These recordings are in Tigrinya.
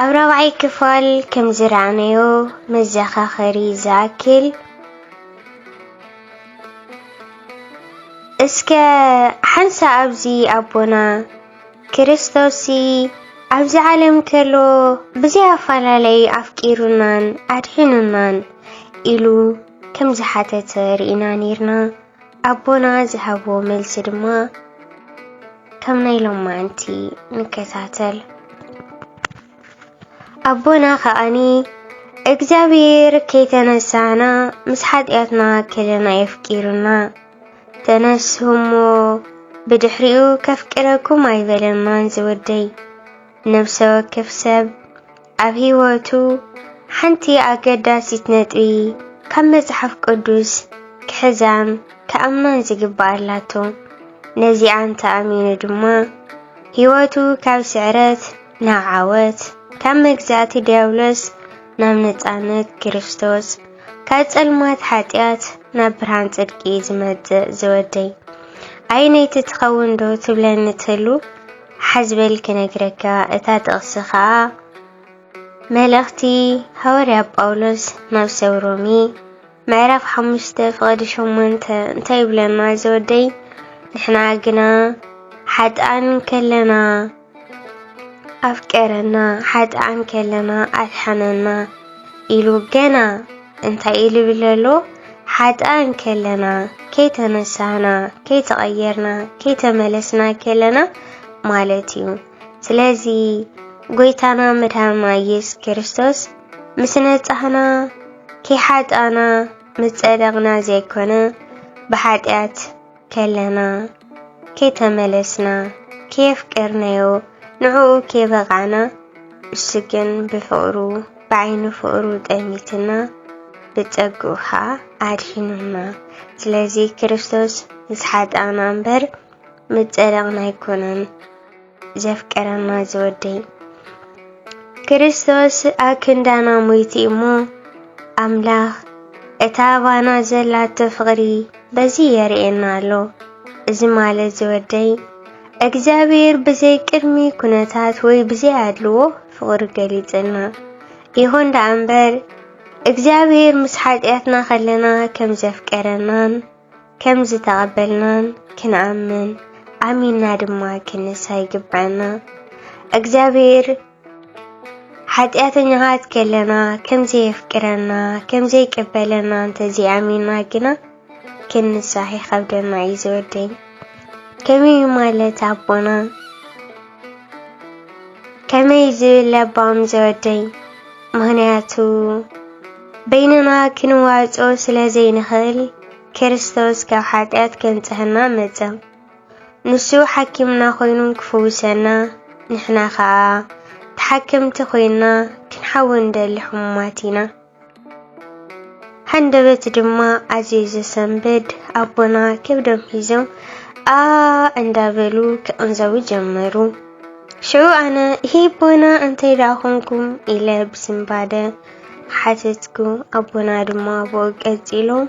ኣብ ራብዓይ ክፋል ከም ዝረኣናዮ መዘኻኸሪ ዝኣክል እስከ ሓንሳ ኣብዚ ኣቦና ክርስቶስ ኣብዚ ዓለም ከሎ ብዘይ ኣፈላለይ ኣፍቂሩናን ኣድሒኑናን ኢሉ ከም ዝሓተተ ርኢና ነይርና። ኣቦና ዝሃብዎ መልሲ ድማ ከም ናይ ሎማንቲ ንከታተል። ኣቦና ከዓኒ እግዚኣብሔር ከይተነሳህና ምስ ሓጢኣትና ከለና የፍቂሩና ተነስሁሞ ብድሕሪኡ ከፍቅረኩም ኣይበለናን ዝወደይ ነብሰ ወከፍ ሰብ ኣብ ህይወቱ ሓንቲ ኣገዳሲት ነጥቢ ካብ መጽሓፍ ቅዱስ ክሕዛን ክኣምናን ዝግባእ ኣላቶ። ነዚኣ እንተ ኣሚኑ ድማ ህይወቱ ካብ ስዕረት ናብ ዓወት፣ ካብ መግዛእቲ ዲያብሎስ ናብ ነጻነት ክርስቶስ፣ ካብ ጸልማት ሓጢኣት ናብ ብርሃን ጽድቂ እዩ ዝመጽእ። ዝወደይ ኣየነይቲ ትኸውን ዶ ትብለኒ ትህሉ? ሓዝ በል ክነግረካ፣ እታ ጥቕሲ ኸኣ መልእኽቲ ሃዋርያ ጳውሎስ ናብ ሰብ ሮሜ ምዕራፍ ሓሙሽተ ፍቕዲ ሸሞንተ እንታይ ይብለና ዘወደይ ንሕና ግና ሓጥኣን ከለና ኣፍቀረና ሓጥኣን ከለና ኣድሓነና ኢሉ ገና እንታይ ኢሉ ይብል ኣሎ? ሓጥኣን ከለና፣ ከይተነሳህና፣ ከይተቐየርና፣ ከይተመለስና ከለና ማለት እዩ። ስለዚ ጎይታና መድሃና ኢየሱስ ክርስቶስ ምስ ነጻህና ከይሓጣና ምስ ጸደቕና ዘይኮነ ብሓጢኣት ከለና ከይተመለስና ከየፍቀርናዮ ንዕኡ ከየበቓዕና እሱ ግን ብፍቕሩ ብዓይኒ ፍቕሩ ጠሚትና ብጸግኡ ኸኣ ኣድሒኑና። ስለዚ ክርስቶስ ምስ ሓጥኣና እምበር ምስ ጸደቕና ኣይኮነን። ዘፍቀረና ዝወደይ ክርስቶስ ኣብ ክንዳና ሞይቲ እሞ ኣምላኽ እታ ኣባና ዘላቶ ፍቕሪ በዚ የርእየና ኣሎ። እዚ ማለት ዝወደይ እግዚኣብሔር ብዘይ ቅድሚ ኩነታት ወይ ብዘይ ኣድልዎ ፍቕሪ ገሊጽና። ይኹን ደኣ እምበር እግዚኣብሔር ምስ ሓጢኣትና ከለና ከም ዘፍቀረናን ከም ዝተቐበልናን ክንኣምን ኣሚንና ድማ ክንሳ ይግብዐና። እግዚኣብሔር ሓጢኣተኛታት ከለና ከም ዘየፍቅረና ከም ዘይቀበለና እንተዘይኣሚንና ግና ክንሳሕ ይኸብደና እዩ ዝወደኝ ከመይ ማለት ኣቦና ከመይ ዝብል ለባም ዝወደይ ምኽንያቱ በይንና ክንዋጾ ስለ ዘይንኽእል ክርስቶስ ካብ ሓጢኣት ከንጽሐና መጸ ንሱ ሓኪምና ኮይኑ ክፍውሰና ንሕና ከኣ ተሓከምቲ ኮይና ክንሓዊ እንደሊ ሕሙማት ኢና ሃንደበት ድማ ኣዝዩ ዘሰንብድ ኣቦና ከብዶም ሒዞም ኣ እንዳበሉ ክቕንዘቡ ጀመሩ። ሽዑ ኣነ ይሄ ኣቦና እንታይ ደኣ ኾንኩም ኢለ ብስንባደ ሓተትኩ። ኣቦና ድማ ብኡ ቀጺሎም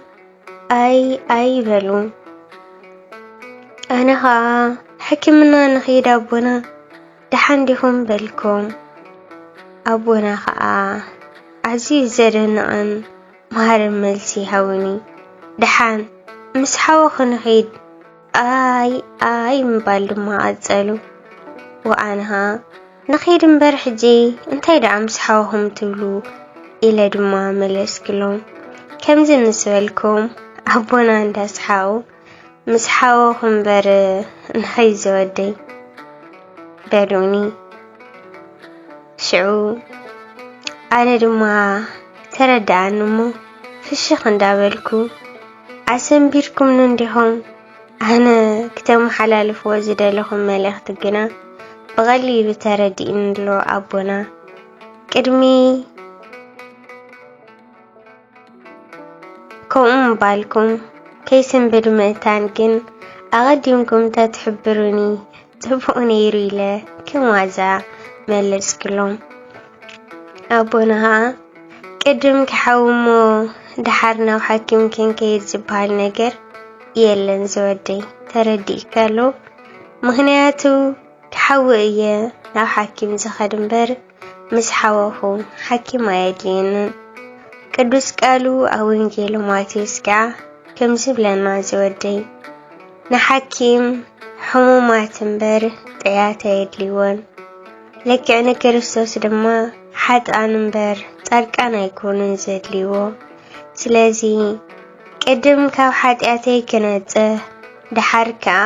ኣይ ኣይ በሉ። ኣነ ኸኣ ሕክምና ንኺድ ኣቦና ደሓን ዲኹም በልኩም ኣቦና ከኣ ኣዝዩ ዘደንቕን መሃርን መልሲ ሃቡኒ። ደሓን ምስ ሓወኹ ንኺድ ኣይ ኣይ ምባል ድማ ቀጸሉ። ወኣንሃ ንኺድ እምበር ሕጂ እንታይ ደኣ ምስ ሓወኹም ትብሉ ኢለ ድማ መለስክሎም። ከምዚ ምስ በልኩም ኣቦና እንዳስሓቑ ምስ ሓወኹ እምበር እንታይ ዘወደይ በሉኒ። ሽዑ ኣነ ድማ ተረድኣኒ እሞ ፍሽኽ እንዳበልኩ ኣሰንቢርኩምኒ እንዲኹም ኣነ ክተመሓላልፍዎ ዝደለኹም መልእኽቲ ግና ብቐሊሉ ተረዲእኒ ኣሎ ኣቦና ቅድሚ ከምኡ ምባልኩም ከይስንብድ ምእታን ግን ኣቐዲምኩም ተትሕብሩኒ ጽቡቕ ነይሩ ኢለ ከም ዋዛ መለስክሎም። ኣቦና ኸኣ ቅድም ክሓዊ እሞ ደሓር ናብ ሓኪም ክንከይድ ዝበሃል ነገር የለን ዝወደይ ተረዲእካሉ ምኽንያቱ ክሓዊ እየ ናብ ሓኪም ዝኸድ እምበር ምስ ሓወኹ ሓኪም ኣየድልየንን። ቅዱስ ቃሉ ኣብ ወንጌል ማቴዎስ ከኣ ከምዚ ይብለና ዝወደይ ንሓኪም ሕሙማት እምበር ጥያት ኣየድልይዎን ልክዕ ንክርስቶስ ድማ ሓጥኣን እምበር ጻድቃን ኣይኮኑን ዘድልይዎ። ስለዚ ቅድም ካብ ሓጢኣተይ ክነጽህ ደሓር ከኣ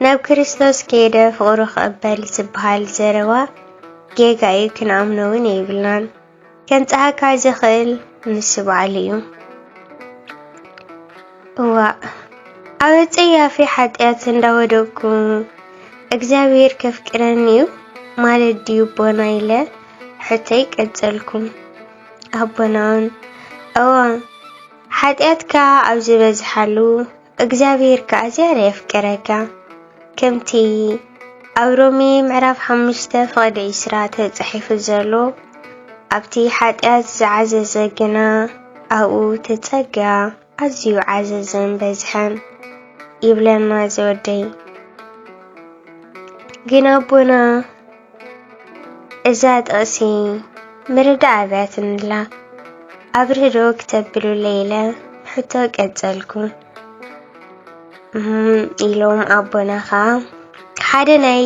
ናብ ክርስቶስ ከይደ ፍቕሩ ክቕበል ዝበሃል ዘረባ ጌጋ እዩ ክንኣምኖ ውን የብልናን። ከምጽኣካ ዝኽእል ንሱ ባዕሉ እዩ። እዋእ ኣብ ኣጸያፊ ሓጢኣት እንዳወደቅኩ እግዚኣብሔር ከፍቅረኒ እዩ ማለት ድዩ ኣቦና ኢለ ሕቶይ ቀጸልኩ። ኣቦና ውን እወ ሓጢኣትካ ኣብ ዝበዝሓሉ እግዚኣብሔር ከኣ ዝያዳ የፍቅረካ ከምቲ ኣብ ሮሜ ምዕራፍ ሓሙሽተ ፍቕዲ ዕስራ ተጻሒፉ ዘሎ ኣብቲ ሓጢኣት ዝዓዘዘ ግና ኣብኡ ተጸጋ ኣዝዩ ዓዘዘን በዝሐን ይብለና ዝወደይ ግን ኣቦና እዛ ጥቕሲ ምርዳእ ኣብያት እንላ ኣብርህዶ ክተብሉ ለይለ ሕቶ ቀጸልኩ ኢሎም ኣቦና ኸዓ ሓደ ናይ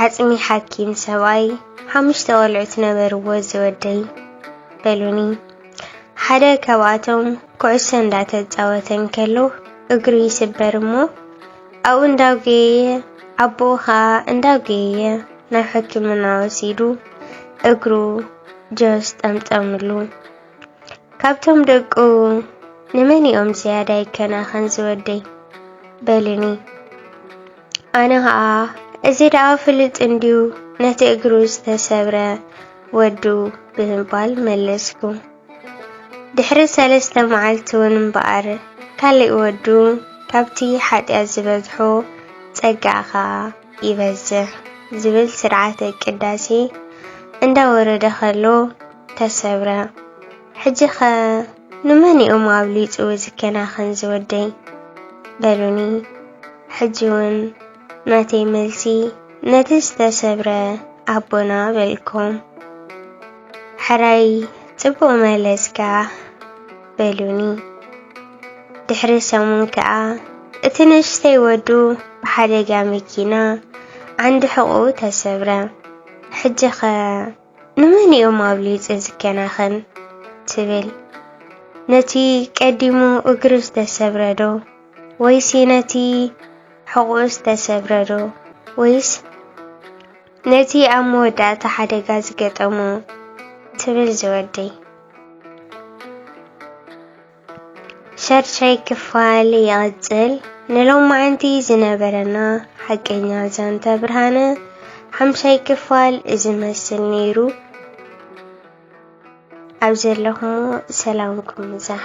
ዓጽሚ ሓኪም ሰብኣይ ሓሙሽተ ቆልዑት ነበርዎ ዝወደይ በሉኒ ሓደ ካብኣቶም ኩዕሶ እንዳተጻወተ እንከሎ እግሩ ይስበር እሞ ኣብኡ እንዳጎየየ ኣቦኡ ኸኣ እንዳጎየየ ናብ ሕክምና ወሲዱ እግሩ ጆስ ጠምጠምሉ። ካብቶም ደቁ ንመን እዮም ዝያዳ ይከናኸን ዝወደይ በልኒ። ኣነ ኸኣ እዚ ደኣ ፍልጥ እንድዩ ነቲ እግሩ ዝተሰብረ ወዱ ብምባል መለስኩ። ድሕሪ ሰለስተ መዓልቲውን እምበኣር ካልእ ወዱ ካብቲ ሓጢኣት ዝበዝሖ ጸጋኣ ኸኣ ይበዝሕ ዝብል ስርዓተ ቅዳሴ እንዳወረደ ኸሎ ተሰብረ። ሕጂኸ ንመን እዮም ኣብሊጹ ዝከናኸን ዝወደይ? በሉኒ። ሕጂውን ናተይ መልሲ ነቲ ዝተሰብረ ኣቦና በልኩም። ሕራይ ጽቡቕ መለስካ በሉኒ። ድሕሪ ሰሙን ከኣ እቲ ንእሽተይ ወዱ ብሓደጋ መኪና ዓንዲ ሕቑኡ ተሰብረ። ሕጂኸ ንመን እዮም ኣብሊጹ ዝከናኸን ትብል? ነቲ ቀዲሙ እግሩ ዝተሰብረ ዶ ወይስ ነቲ ሕቑኡ ዝተሰብረ ዶ ወይስ ነቲ ኣብ መወዳእታ ሓደጋ ዝገጠሞ ትብል ዝወደይ ሸርሻይ ክፋል ይቕጽል። ንሎማዓንቲ ዝነበረና ሓቀኛ ዛንታ ብርሃነ ሓምሻይ ክፋል እዚ መስል ነይሩ። ኣብ ዘለኹም ሰላምኩም ይብዛሕ።